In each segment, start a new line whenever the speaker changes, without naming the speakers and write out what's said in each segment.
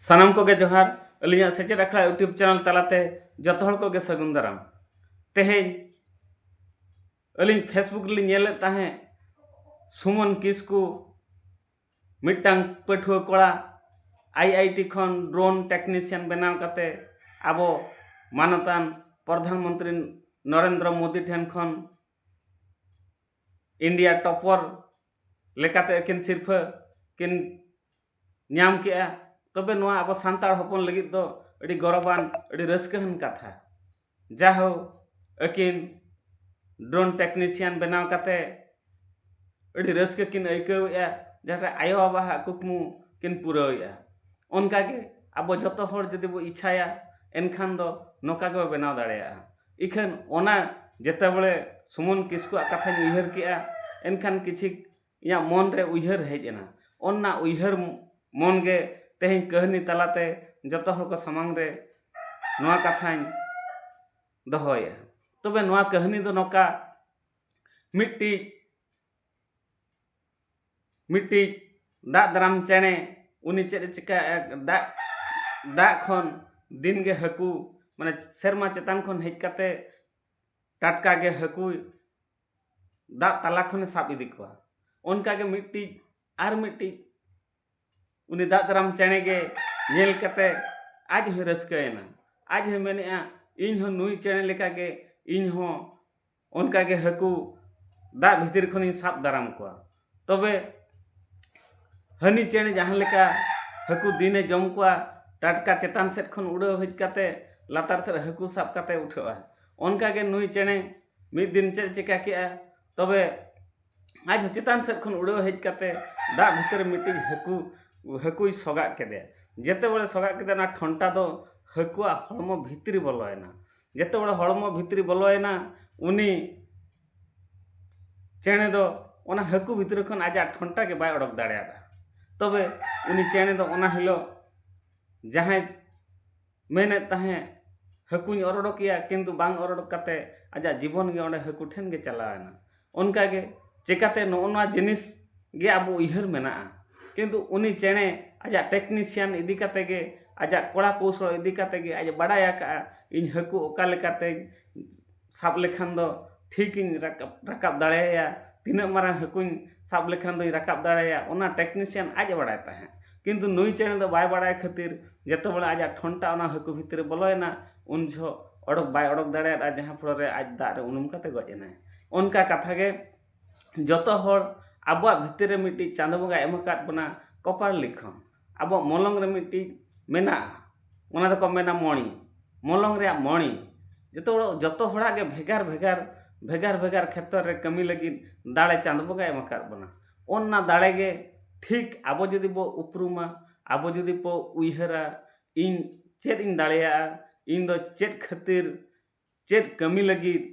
ᱥᱟᱱᱟᱢ ᱠᱚᱜᱮ ᱡᱚᱦᱟᱨ ᱟᱹᱞᱤᱧᱟᱜ ᱥᱮᱪᱮᱫ ᱟᱠᱷᱲᱟ ᱤᱭᱩᱴᱩᱵᱽ ᱪᱮᱱᱮᱞ ᱛᱟᱞᱟᱛᱮ ᱡᱚᱛᱚ ᱦᱚᱲ ᱠᱚᱜᱮ ᱥᱟᱹᱜᱩᱱ ᱫᱟᱨᱟᱢ ᱛᱮᱦᱮᱧ ᱟᱹᱞᱤᱧ ᱯᱷᱮᱥᱵᱩᱠ ᱨᱮᱞᱤᱧ ᱧᱮᱞᱮᱫ ᱛᱟᱦᱮᱸᱫ ᱥᱩᱢᱚᱱ ᱠᱤᱥᱠᱩ ᱢᱤᱫᱴᱟᱝ ᱯᱟᱹᱴᱷᱩᱣᱟᱹ ᱠᱚᱲᱟ ᱟᱭ ᱟᱭ ᱴᱤ ᱠᱷᱚᱱ ᱰᱨᱳᱱ ᱴᱮᱠᱱᱤᱥᱤᱭᱟᱱ ᱵᱮᱱᱟᱣ ᱠᱟᱛᱮ ᱟᱵᱚ ᱢᱟᱱᱚᱛᱟᱱ ᱯᱨᱚᱫᱷᱟᱱ ᱢᱚᱱᱛᱨᱤ ᱱᱚᱨᱮᱱᱫᱨᱚ ᱢᱳᱫᱤ ᱴᱷᱮᱱ ᱠᱷᱚᱱ ᱤᱱᱰᱤᱭᱟ ᱴᱚᱯᱚᱨ ᱞᱮᱠᱟᱛᱮ ᱟᱹᱠᱤᱱ ᱥᱤᱨᱯᱷᱟᱹ ᱠᱤᱱ ᱧᱟᱢ ᱠᱮᱜᱼᱟ ᱛᱚᱵᱮ ᱱᱚᱣᱟ ᱟᱵᱚ ᱥᱟᱱᱛᱟᱲ ᱦᱚᱯᱚᱱ ᱞᱟᱹᱜᱤᱫ ᱫᱚ ᱟᱹᱰᱤ ᱜᱚᱨᱚᱵᱟᱱ ᱟᱹᱰᱤ ᱨᱟᱹᱥᱠᱟᱹᱣᱟᱱ ᱠᱟᱛᱷᱟ ᱡᱟᱦᱳ ᱟᱹᱠᱤᱱ ᱰᱨᱳᱱ ᱴᱮᱠᱱᱤᱥᱤᱭᱟᱱ ᱵᱮᱱᱟᱣ ᱠᱟᱛᱮ ᱟᱹᱰᱤ ᱨᱟᱹᱥᱠᱟᱹ ᱠᱤᱱ ᱟᱹᱭᱠᱟᱹᱣᱮᱜᱼᱟ ᱡᱟᱦᱟᱸᱴᱟᱜ ᱟᱭᱳ ᱵᱟᱵᱟᱣᱟᱜ ᱠᱩᱠᱢᱩ ᱠᱤᱱ ᱯᱩᱨᱟᱹᱣᱮᱜᱼᱟ ᱚᱱᱠᱟᱜᱮ ᱟᱵᱚ ᱡᱚᱛᱚ ᱦᱚᱲ ᱡᱩᱫᱤ ᱵᱚ ᱤᱪᱪᱷᱟᱭᱟ ᱮᱱᱠᱷᱟᱱ ᱫᱚ ᱱᱚᱝᱠᱟ ᱜᱮᱵᱚ ᱵᱮᱱᱟᱣ ᱫᱟᱲᱮᱭᱟᱜᱼᱟ ᱤᱠᱷᱟᱹᱱ ᱚᱱᱟ ᱡᱮᱛᱮᱵᱟᱲᱮ ᱥᱩᱢᱚᱱ ᱠᱤᱥᱠᱩᱣᱟᱜ ᱠᱟᱛᱷᱟᱧ ᱩᱭᱦᱟᱹᱨ ᱠᱮᱫᱼᱟ ᱮᱱᱠᱷᱟᱱ ᱠᱤᱪᱷᱤᱠ ᱤᱧᱟᱹᱜ ᱢᱚᱱ ᱨᱮ ᱩᱭᱦᱟᱹᱨ ᱦᱮᱡ ᱮᱱᱟ ᱚᱱᱟ ᱩᱭᱦᱟᱹᱨ ᱢᱚᱱ ᱜᱮ ᱛᱮᱦᱮᱧ ᱠᱟᱹᱦᱱᱤ ᱛᱟᱞᱟᱛᱮ ᱡᱚᱛᱚ ᱦᱚᱲ ᱠᱚ ᱥᱟᱢᱟᱝ ᱨᱮ ᱱᱚᱣᱟ ᱠᱟᱛᱷᱟᱧ ᱫᱚᱦᱚᱭᱮᱫᱼᱟ ᱛᱚᱵᱮ ᱱᱚᱣᱟ ᱠᱟᱹᱦᱱᱤ ᱫᱚ ᱱᱚᱝᱠᱟ ᱢᱤᱫᱴᱤᱡ ᱢᱤᱫᱴᱤᱡ ᱫᱟᱜ ᱫᱟᱨᱟᱢ ᱪᱮᱬᱮ ᱩᱱᱤ ᱪᱮᱫ ᱮ ᱪᱤᱠᱟᱹᱭᱮᱫᱼᱟ ᱫᱟᱜ ᱫᱟᱜ ᱠᱷᱚᱱ ᱫᱤᱱ ᱜᱮ ᱦᱟᱹᱠᱩ ᱢᱟᱱᱮ ᱥᱮᱨᱢᱟ ᱪᱮᱛᱟᱱ ᱠᱷᱚᱱ ᱦᱮᱡ ᱠᱟᱛᱮ ᱴᱟᱴᱠᱟ ᱜᱮ ᱦᱟᱹᱠᱩ ᱫᱟᱜ ᱛᱟᱞᱟ ᱠᱷᱚᱱᱮ ᱥᱟᱵ ᱤᱫᱤ ᱠᱚᱣᱟ ᱚᱱᱠᱟ ᱜᱮ ᱢᱤᱫᱴᱤᱡ ᱟᱨ ᱢᱤᱫᱴᱤᱡ ᱩᱱᱤ ᱫᱟᱜ ᱫᱟᱨᱟᱢ ᱪᱮᱬᱮ ᱜᱮ ᱧᱮᱞ ᱠᱟᱛᱮ ᱟᱡ ᱦᱚᱸᱭ ᱨᱟᱹᱥᱠᱟᱹᱭᱮᱱᱟ ᱟᱡ ᱦᱚᱸᱭ ᱢᱮᱱᱮᱫᱼᱟ ᱤᱧ ᱦᱚᱸ ᱱᱩᱭ ᱪᱮᱬᱮ ᱞᱮᱠᱟ ᱜᱮ ᱤᱧ ᱦᱚᱸ ᱚᱱᱠᱟ ᱜᱮ ᱦᱟᱹᱠᱩ ᱫᱟᱜ ᱵᱷᱤᱛᱤᱨ ᱠᱷᱚᱱᱤᱧ ᱥᱟᱵ ᱫᱟᱨᱟᱢ ᱠᱚᱣᱟ ᱛᱚᱵᱮ ᱦᱟᱹᱱᱤ ᱪᱮᱬᱮ ᱡᱟᱦᱟᱸ ᱞᱮᱠᱟ ᱦᱟᱹᱠᱩ ᱫᱤᱱᱮ ᱡᱚᱢ ᱠᱚᱣᱟ ᱴᱟᱴᱠᱟ ᱪᱮᱛᱟᱱ ᱥᱮᱫ ᱠᱷᱚᱱ ᱩᱰᱟᱹᱣ ᱦᱮᱡ ᱠᱟᱛᱮ ᱞᱟᱛᱟᱨ ᱥᱮᱫ ᱦᱟᱹᱠᱩ ᱥᱟᱵ ᱠᱟᱛᱮ ᱩᱴᱷᱟᱹᱜ ᱟᱭ ᱚᱱᱠᱟ ᱜᱮ ᱱᱩᱭ ᱪᱮᱬᱮ ᱢᱤᱫ ᱫᱤᱱ ᱪᱮᱫ ᱮ ᱪᱤᱠᱟᱹ ᱠᱮᱫᱼᱟ ᱛᱚᱵᱮ ᱟᱡ ᱦᱚᱸ ᱪᱮᱛᱟᱱ ᱥᱮᱫ ᱠᱷᱚᱱ ᱩᱰᱟᱹᱣ ᱦᱮᱡ ᱠᱟᱛᱮ ᱫᱟᱜ ᱵᱷᱤᱛᱤᱨ ᱨᱮ ᱢᱤᱫᱴᱤᱡ ᱦᱟᱹᱠᱩ ᱦᱟᱹᱠᱩᱭ ᱥᱚᱜᱟᱜ ᱠᱮᱫᱮᱭᱟ ᱡᱮᱛᱮ ᱵᱟᱨᱮ ᱥᱚᱜᱟᱜ ᱠᱮᱫᱮᱭᱟ ᱚᱱᱟ ᱴᱷᱚᱱᱴᱟ ᱫᱚ ᱦᱟᱹᱠᱩᱣᱟᱜ ᱦᱚᱲᱢᱚ ᱵᱷᱤᱛᱨᱤ ᱵᱚᱞᱚᱭᱮᱱᱟ ᱡᱮᱛᱮᱵᱮᱲᱮ ᱦᱚᱲᱢᱚ ᱵᱷᱤᱛᱨᱤ ᱵᱚᱞᱚᱭᱮᱱᱟ ᱩᱱᱤ ᱪᱮᱬᱮ ᱫᱚ ᱚᱱᱟ ᱦᱟᱹᱠᱩ ᱵᱷᱤᱛᱨᱤ ᱠᱷᱚᱱ ᱟᱡᱟᱜ ᱴᱷᱚᱱᱴᱟ ᱜᱮ ᱵᱟᱭ ᱚᱰᱚᱠ ᱫᱟᱲᱮᱭᱟᱫᱟ ᱛᱚᱵᱮ ᱩᱱᱤ ᱪᱮᱬᱮ ᱫᱚ ᱚᱱᱟ ᱦᱤᱞᱳᱜ ᱡᱟᱦᱟᱸᱭ ᱢᱮᱱᱮᱫ ᱛᱟᱦᱮᱸᱫ ᱦᱟᱹᱠᱩᱧ ᱚᱨ ᱚᱰᱚᱠᱮᱭᱟ ᱠᱤᱱᱛᱩ ᱵᱟᱝ ᱚᱨ ᱚᱰᱚᱠ ᱠᱟᱛᱮ ᱟᱡᱟᱜ ᱡᱤᱵᱚᱱ ᱜᱮ ᱚᱸᱰᱮ ᱦᱟᱹᱠᱩ ᱴᱷᱮᱱ ᱜᱮ ᱪᱟᱞᱟᱣᱮᱱᱟ ᱚᱱᱠᱟ ᱜᱮ ᱪᱤᱠᱟᱹᱛᱮ ᱱᱚᱜᱼᱚ ᱱᱚᱣᱟ ᱡᱤᱱᱤᱥ ᱜᱮ ᱟᱵᱚ ᱩᱭᱦᱟᱹᱨ ᱢᱮᱱᱟᱜᱼᱟ ᱠᱤᱱᱛᱩ ᱩᱱᱤ ᱪᱮᱬᱮ ᱟᱡᱟᱜ ᱴᱮᱠᱱᱤᱥᱤᱭᱟᱱ ᱤᱫᱤ ᱠᱟᱛᱮ ᱜᱮ ᱟᱡᱟᱜ ᱠᱚᱲᱟ ᱠᱚᱣᱥᱳᱞ ᱤᱫᱤ ᱠᱟᱛᱮ ᱜᱮ ᱟᱡ ᱮ ᱵᱟᱲᱟᱭ ᱟᱠᱟᱫᱼᱟ ᱤᱧ ᱦᱟᱹᱠᱩ ᱚᱠᱟ ᱞᱮᱠᱟᱛᱮ ᱥᱟᱵ ᱞᱮᱠᱷᱟᱱ ᱫᱚ ᱴᱷᱤᱠ ᱤᱧ ᱨᱟᱠᱟᱵ ᱨᱟᱠᱟᱵ ᱫᱟᱲᱮᱭᱟᱭᱟ ᱛᱤᱱᱟᱹᱜ ᱢᱟᱨᱟᱝ ᱦᱟᱹᱠᱩᱧ ᱥᱟᱵ ᱞᱮᱠᱷᱟᱱ ᱫᱚᱧ ᱨᱟᱠᱟᱵ ᱫᱟᱲᱮᱭᱟᱭᱟ ᱚᱱᱟ ᱴᱮᱠᱱᱤᱥᱤᱭᱟᱱ ᱟᱡ ᱮ ᱵᱟᱲᱟᱭ ᱛᱟᱦᱮᱸᱫ ᱠᱤᱱᱛᱩ ᱱᱩᱭ ᱪᱮᱬᱮ ᱫᱚ ᱵᱟᱭ ᱵᱟᱲᱟᱭ ᱠᱷᱟᱹᱛᱤᱨ ᱡᱚᱛᱚ ᱦᱚᱲᱟᱜ ᱟᱡᱟᱜ ᱴᱷᱚᱱᱴᱟ ᱚᱱᱟ ᱦᱟᱹᱠᱩ ᱵᱷᱤᱛᱤᱨ ᱨᱮ ᱵᱚᱞᱚᱭᱮᱱᱟ ᱩᱱ ᱡᱚᱦᱚᱜ ᱚᱰᱚᱠ ᱵᱟᱭ ᱚᱰᱚᱠ ᱫᱟᱲᱮᱭᱟᱫᱼᱟ ᱡᱟᱦᱟᱸ ᱯᱷᱚᱲᱚ ᱨᱮ ᱟᱡ ᱫᱟᱜ ᱨᱮ ᱩᱱᱩᱢ ᱠᱟᱛᱮ ᱜᱚᱡ ᱮᱱᱟᱭ ᱚᱱᱠᱟ ᱠᱟᱛᱷᱟ ᱜᱮ ᱡᱚᱛᱚ ᱦᱚᱲ ᱟᱵᱚᱣᱟᱜ ᱵᱷᱤᱛᱤᱨ ᱨᱮ ᱢᱤᱫᱴᱤᱡ ᱪᱟᱸᱫᱚ ᱵᱚᱸᱜᱟᱭ ᱮᱢ ᱟᱠᱟᱫ ᱵᱚᱱᱟ ᱠᱚᱯᱟᱞ ᱞᱤᱠᱷᱚᱱ ᱟᱵᱚᱣᱟᱜ ᱢᱚᱞᱚᱝ ᱨᱮ ᱢᱤᱫᱴᱤᱡ ᱢᱮᱱᱟᱜᱼᱟ ᱚᱱᱟ ᱫᱚᱠᱚ ᱢᱮᱱᱟ ᱢᱚᱬᱤ ᱢᱚᱞᱚᱝ ᱨᱮᱭᱟᱜ ᱢᱚᱬᱤ ᱡᱚᱛᱚ ᱦᱚᱲ ᱡᱚᱛᱚ ᱦᱚᱲᱟᱜ ᱜᱮ ᱵᱷᱮᱜᱟᱨ ᱵᱷᱮᱜᱟᱨ ᱵᱷᱮᱜᱟᱨ ᱵᱷᱮᱜᱟᱨ ᱠᱷᱮᱛᱨᱚ ᱨᱮ ᱠᱟᱹᱢᱤ ᱞᱟᱹᱜᱤᱫ ᱫᱟᱲᱮ ᱪᱟᱸᱫᱚ ᱵᱚᱸᱜᱟᱭ ᱮᱢ ᱟᱠᱟᱫ ᱵᱚᱱᱟ ᱚᱱᱟ ᱫᱟᱲᱮ ᱜᱮ ᱴᱷᱤᱠ ᱟᱵᱚ ᱡᱩᱫᱤ ᱵᱚ ᱩᱯᱨᱩᱢᱟ ᱟᱵᱚ ᱡᱩᱫᱤ ᱵᱚ ᱩᱭᱦᱟᱹᱨᱟ ᱤᱧ ᱪᱮᱫ ᱤᱧ ᱫᱟᱲᱮᱭᱟᱜᱼᱟ ᱤᱧ ᱫᱚ ᱪᱮᱫ ᱠᱷᱟᱹᱛᱤᱨ ᱪᱮᱫ ᱠᱟᱹᱢᱤ ᱞᱟᱹᱜᱤᱫ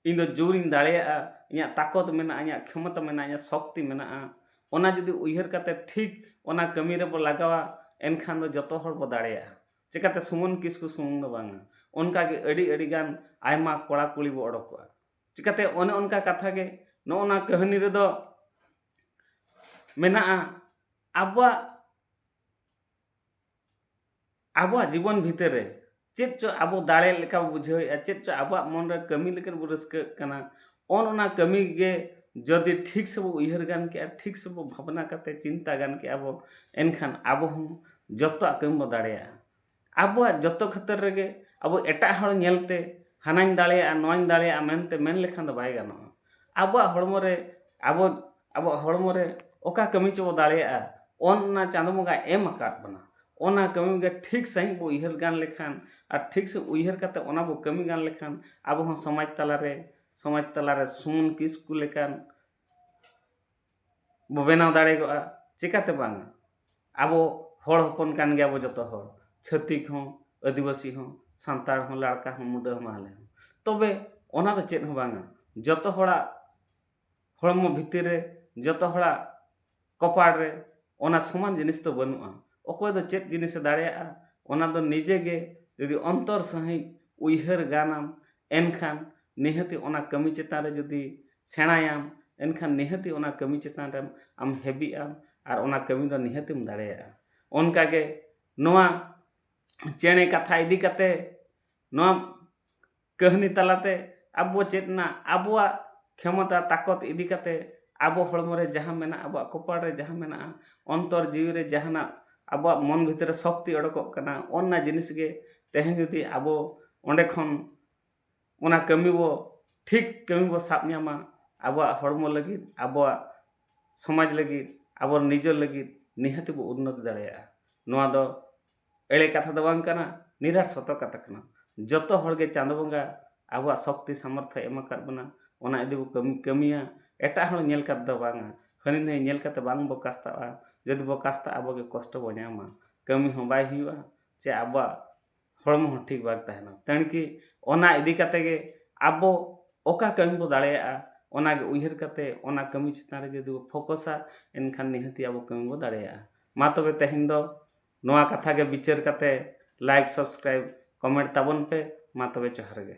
ᱤᱧ ᱫᱚ ᱡᱳᱨ ᱤᱧ ᱫᱟᱲᱮᱭᱟᱜᱼᱟ ᱤᱧᱟᱹᱜ ᱛᱟᱠᱚᱛ ᱢᱮᱱᱟᱜᱼᱟ ᱤᱧᱟᱹᱜ ᱠᱷᱚᱢᱚᱛᱟ ᱢᱮᱱᱟᱜᱼᱟ ᱤᱧᱟᱹᱜ ᱥᱚᱠᱛᱤ ᱢᱮᱱᱟᱜᱼᱟ ᱚᱱᱟ ᱡᱩᱫᱤ ᱩᱭᱦᱟᱹᱨ ᱠᱟᱛᱮ ᱴᱷᱤᱠ ᱚᱱᱟ ᱠᱟᱹᱢᱤ ᱨᱮᱵᱚ ᱞᱟᱜᱟᱣᱟ ᱮᱱᱠᱷᱟᱱ ᱫᱚ ᱡᱚᱛᱚ ᱦᱚᱲ ᱵᱚ ᱫᱟᱲᱮᱭᱟᱜᱼᱟ ᱪᱤᱠᱟᱹᱛᱮ ᱥᱩᱢᱚᱱ ᱠᱤᱥᱠᱩ ᱥᱩᱢᱩᱝ ᱫᱚ ᱵᱟᱝᱟ ᱚᱱᱠᱟ ᱜᱮ ᱟᱹᱰᱤ ᱟᱹᱰᱤ ᱜᱟᱱ ᱟᱭᱢᱟ ᱠᱚᱲᱟ ᱠᱩᱲᱤ ᱵᱚ ᱚᱰᱚᱠᱚᱜᱼᱟ ᱪᱤᱠᱟᱹᱛᱮ ᱚᱱᱮ ᱚᱱᱠᱟ ᱠᱟᱛᱷᱟ ᱜᱮ ᱱᱚᱜᱼᱚ ᱱᱟ ᱠᱟᱹᱦᱱᱤ ᱨᱮᱫᱚ ᱢᱮᱱᱟᱜᱼᱟ ᱟᱵᱚᱣᱟᱜ ᱟᱵᱚᱣᱟᱜ ᱡᱤᱵᱚᱱ ᱵᱷᱤᱛᱟᱹᱨ ᱨᱮ ᱪᱮᱫ ᱪᱚ ᱟᱵᱚ ᱫᱟᱲᱮ ᱞᱮᱠᱟ ᱵᱚ ᱵᱩᱡᱷᱟᱹᱣᱮᱫᱼᱟ ᱪᱮᱫ ᱪᱚ ᱟᱵᱚᱣᱟᱜ ᱢᱚᱱ ᱨᱮ ᱠᱟᱹᱢᱤ ᱞᱮᱠᱟ ᱵᱚ ᱨᱟᱹᱥᱠᱟᱹᱜ ᱠᱟᱱᱟ ᱚᱱ ᱚᱱᱟ ᱠᱟᱹᱢᱤ ᱜᱮ ᱡᱩᱫᱤ ᱴᱷᱤᱠ ᱥᱟᱺᱦᱤᱡ ᱵᱚ ᱩᱭᱦᱟᱹᱨ ᱜᱟᱱ ᱠᱮᱭᱟ ᱴᱷᱤᱠ ᱥᱟᱺᱦᱤᱡ ᱵᱚ ᱵᱷᱟᱵᱽᱱᱟ ᱠᱟᱛᱮ ᱪᱤᱱᱛᱟᱹ ᱜᱟᱱ ᱠᱮᱭᱟ ᱵᱚ ᱮᱱᱠᱷᱟᱱ ᱟᱵᱚ ᱦᱚᱸ ᱡᱚᱛᱚᱣᱟᱜ ᱠᱟᱹᱢᱤ ᱵᱚ ᱫᱟᱲᱮᱭᱟᱜᱼᱟ ᱟᱵᱚᱣᱟᱜ ᱡᱚᱛᱚ ᱠᱷᱟᱹᱛᱤᱨ ᱨᱮᱜᱮ ᱟᱵᱚ ᱮᱴᱟᱜ ᱦᱚᱲ ᱧᱮᱞᱛᱮ ᱦᱟᱱᱟᱧ ᱫᱟᱲᱮᱭᱟᱜᱼᱟ ᱱᱚᱣᱟᱧ ᱫᱟᱲᱮᱭᱟᱜᱼᱟ ᱢᱮᱱᱛᱮ ᱢᱮᱱ ᱞᱮᱠᱷᱟᱱ ᱫᱚ ᱵᱟᱭ ᱜᱟᱱᱚᱜᱼᱟ ᱟᱵᱚᱣᱟᱜ ᱦᱚᱲᱢᱚ ᱨᱮ ᱟᱵᱚ ᱟᱵᱚᱣᱟᱜ ᱦᱚᱲᱢᱚ ᱨᱮ ᱚᱠᱟ ᱠᱟᱹᱢᱤ ᱪᱚᱵᱚ ᱫᱟᱲᱮᱭᱟᱜᱼᱟ ᱚᱱᱟ ᱪᱟᱸᱫᱚ ᱵᱚᱸᱜᱟᱭ ᱮᱢ ᱟᱠᱟᱫ ᱵᱚᱱᱟ ᱚᱱᱟ ᱠᱟᱹᱢᱤ ᱜᱮ ᱴᱷᱤᱠ ᱥᱟᱺᱦᱤᱡ ᱵᱚ ᱩᱭᱦᱟᱹᱨ ᱜᱟᱱ ᱞᱮᱠᱷᱟᱱ ᱟᱨ ᱴᱷᱤᱠ ᱥᱟᱺᱦᱤᱡ ᱩᱭᱦᱟᱹᱨ ᱠᱟᱛᱮ ᱚᱱᱟ ᱵᱚ ᱠᱟᱹᱢᱤ ᱜᱟᱱ ᱞᱮᱠᱷᱟᱱ ᱟᱵᱚ ᱦᱚᱸ ᱥᱚᱢᱟᱡᱽ ᱛᱟᱞᱟ ᱨᱮ ᱥᱚᱢᱟᱡᱽ ᱛᱟᱞᱟ ᱨᱮ ᱥᱩᱢᱚᱱ ᱠᱤᱥᱠᱩ ᱞᱮᱠᱟᱱ ᱵᱚ ᱵᱮᱱᱟᱣ ᱫᱟᱲᱮ ᱠᱚᱜᱼᱟ ᱪᱮᱠᱟᱛᱮ ᱵᱟᱝ ᱟᱵᱚ ᱦᱚᱲ ᱦᱚᱯᱚᱱ ᱠᱟᱱ ᱜᱮᱭᱟ ᱵᱚ ᱡᱚᱛᱚ ᱦᱚᱲ ᱪᱷᱟᱹᱛᱤᱠ ᱦᱚᱸ ᱟᱹᱫᱤᱵᱟᱹᱥᱤ ᱦᱚᱸ ᱥᱟᱱᱛᱟᱲ ᱦᱚᱸ ᱞᱟᱲᱠᱟ ᱦᱚᱸ ᱢᱩᱰᱟᱹ ᱦᱚᱸ ᱢᱟᱦᱞᱮ ᱦᱚᱸ ᱛᱚᱵᱮ ᱚᱱᱟ ᱫᱚ ᱪᱮᱫ ᱦᱚᱸ ᱵᱟᱝᱟ ᱡᱚᱛᱚ ᱦᱚᱲᱟᱜ ᱦᱚᱲᱢᱚ ᱵᱷᱤᱛᱤᱨ ᱨᱮ ᱡᱚᱛᱚ ᱦᱚᱲᱟᱜ ᱠᱚᱯᱟᱲ ᱨᱮ ᱚᱱᱟ ᱥᱚᱢᱟᱱ ᱡᱤᱱᱤᱥ ᱫᱚ ᱵᱟᱹᱱᱩᱜᱼᱟ ᱚᱠᱚᱭ ᱫᱚ ᱪᱮᱫ ᱡᱤᱱᱤᱥᱮ ᱫᱟᱲᱮᱭᱟᱜᱼᱟ ᱚᱱᱟ ᱫᱚ ᱱᱤᱡᱮ ᱜᱮ ᱡᱩᱫᱤ ᱚᱱᱛᱚᱨ ᱥᱟᱺᱦᱤᱡ ᱩᱭᱦᱟᱹᱨ ᱜᱟᱱᱟᱢ ᱮᱱᱠᱷᱟᱱ ᱱᱤᱦᱟᱹᱛᱤ ᱚᱱᱟ ᱠᱟᱹᱢᱤ ᱪᱮᱛᱟᱱ ᱨᱮ ᱡᱩᱫᱤ ᱥᱮᱬᱟᱭᱟᱢ ᱮᱱᱠᱷᱟᱱ ᱱᱤᱦᱟᱹᱛᱤ ᱚᱱᱟ ᱠᱟᱹᱢᱤ ᱪᱮᱛᱟᱱ ᱨᱮᱢ ᱟᱢ ᱦᱮᱵᱤᱜ ᱟᱢ ᱟᱨ ᱚᱱᱟ ᱠᱟᱹᱢᱤ ᱫᱚ ᱱᱤᱦᱟᱹᱛᱮᱢ ᱫᱟᱲᱮᱭᱟᱜᱼᱟ ᱚᱱᱠᱟ ᱜᱮ ᱱᱚᱣᱟ ᱪᱮᱬᱮ ᱠᱟᱛᱷᱟ ᱤᱫᱤ ᱠᱟᱛᱮᱫ ᱱᱚᱣᱟ ᱠᱟᱹᱦᱱᱤ ᱛᱟᱞᱟᱛᱮ ᱟᱵᱚ ᱪᱮᱫ ᱮᱱᱟ ᱟᱵᱚᱣᱟᱜ ᱠᱷᱮᱢᱚᱛᱟ ᱛᱟᱠᱚᱛ ᱤᱫᱤ ᱠᱟᱛᱮ ᱟᱵᱚ ᱦᱚᱲᱢᱚ ᱨᱮ ᱡᱟᱦᱟᱸ ᱢᱮᱱᱟᱜᱼᱟ ᱟᱵᱚᱣᱟᱜ ᱠᱚᱯᱟᱲ ᱨᱮ ᱡᱟᱦᱟᱸ ᱢᱮᱱᱟᱜᱼᱟ ᱚᱱᱛᱚᱨ ᱡᱤᱣᱤ ᱨᱮ ᱡᱟᱦᱟᱱᱟᱜ ᱟᱵᱚᱣᱟᱜ ᱢᱚᱱ ᱵᱷᱤᱛᱤᱨ ᱨᱮ ᱥᱚᱠᱛᱤ ᱚᱰᱚᱠᱚᱜ ᱠᱟᱱᱟ ᱚᱱᱟ ᱡᱤᱱᱤᱥ ᱜᱮ ᱛᱮᱦᱮᱧ ᱡᱩᱫᱤ ᱟᱵᱚ ᱚᱸᱰᱮ ᱠᱷᱚᱱ ᱚᱱᱟ ᱠᱟᱹᱢᱤ ᱵᱚ ᱴᱷᱤᱠ ᱠᱟᱹᱢᱤ ᱵᱚ ᱥᱟᱵ ᱧᱟᱢᱟ ᱟᱵᱚᱣᱟᱜ ᱦᱚᱲᱢᱚ ᱞᱟᱹᱜᱤᱫ ᱟᱵᱚᱣᱟᱜ ᱥᱚᱢᱟᱡᱽ ᱞᱟᱹᱜᱤᱫ ᱟᱵᱚ ᱱᱤᱡᱮᱨ ᱞᱟᱹᱜᱤᱫ ᱱᱤᱦᱟᱹᱛ ᱵᱚ ᱩᱱᱱᱚᱛᱤ ᱫᱟᱲᱮᱭᱟᱜᱼᱟ ᱱᱚᱣᱟ ᱫᱚ ᱮᱲᱮ ᱠᱟᱛᱷᱟ ᱫᱚ ᱵᱟᱝ ᱠᱟᱱᱟ ᱱᱤᱨᱟᱴ ᱥᱚᱛᱚ ᱠᱟᱛᱷᱟ ᱠᱟᱱᱟ ᱡᱚᱛᱚ ᱦᱚᱲ ᱜᱮ ᱪᱟᱸᱫᱚ ᱵᱚᱸᱜᱟ ᱟᱵᱚᱣᱟᱜ ᱥᱚᱠᱛᱤ ᱥᱟᱢᱚᱨᱛᱷᱚ ᱮᱢ ᱟᱠᱟᱫ ᱵᱚᱱᱟ ᱚᱱᱟ ᱤᱫᱤ ᱵᱚ ᱠᱟᱹᱢᱤ ᱠᱟᱹᱢᱤᱭᱟ ᱮᱴᱟᱜ ᱦᱚᱲ ᱧᱮᱞ ᱠᱟᱛᱮ ᱫᱚ ᱵᱟᱝᱟ ᱦᱟᱹᱱᱤ ᱱᱟᱹᱭ ᱧᱮᱞ ᱠᱟᱛᱮ ᱵᱟᱝ ᱵᱚ ᱠᱟᱥᱛᱟᱜᱼᱟ ᱡᱩᱫᱤ ᱵᱚ ᱠᱟᱥᱛᱟᱜᱼᱟ ᱟᱵᱚ ᱜᱮ ᱠᱚᱥᱴᱚ ᱵᱚ ᱧᱟᱢᱟ ᱠᱟᱹᱢᱤ ᱦᱚᱸ ᱵᱟᱭ ᱦᱩᱭᱩᱜᱼᱟ ᱪᱮ ᱟᱵᱚᱣᱟᱜ ᱦᱚᱲᱢᱚ ᱦᱚᱸ ᱴᱷᱤᱠ ᱵᱟᱝ ᱛᱟᱦᱮᱱᱟ ᱛᱮᱬᱠᱤ ᱚᱱᱟ ᱤᱫᱤ ᱠᱟᱛᱮ ᱜᱮ ᱟᱵᱚ ᱚᱠᱟ ᱠᱟᱹᱢᱤ ᱵᱚ ᱫᱟᱲᱮᱭᱟᱜᱼᱟ ᱚᱱᱟ ᱜᱮ ᱩᱭᱦᱟᱹᱨ ᱠᱟᱛᱮ ᱚᱱᱟ ᱠᱟᱹᱢᱤ ᱪᱮᱛᱟᱱ ᱨᱮ ᱡᱩᱫᱤ ᱵᱚ ᱯᱷᱳᱠᱚᱥᱟ ᱮᱱᱠᱷᱟᱱ ᱱᱤᱦᱟᱹᱛᱤ ᱟᱵᱚ ᱠᱟᱹᱢᱤ ᱵᱚ ᱫᱟᱲᱮᱭᱟᱜᱼᱟ ᱢᱟ ᱛᱚᱵᱮ ᱛᱮᱦᱮᱧ ᱫᱚ ᱱᱚᱣᱟ ᱠᱟᱛᱷᱟ ᱜᱮ ᱵᱤᱪᱟᱹᱨ ᱠᱟᱛᱮ ᱞᱟᱭᱤᱠ ᱥᱟᱵᱥᱠᱨᱟᱭᱤᱵ ᱠᱚᱢᱮᱱᱴ ᱛᱟᱵᱚᱱ ᱯᱮ ᱢᱟ ᱛᱚᱵᱮ ᱡᱚᱦᱟᱨ ᱜᱮ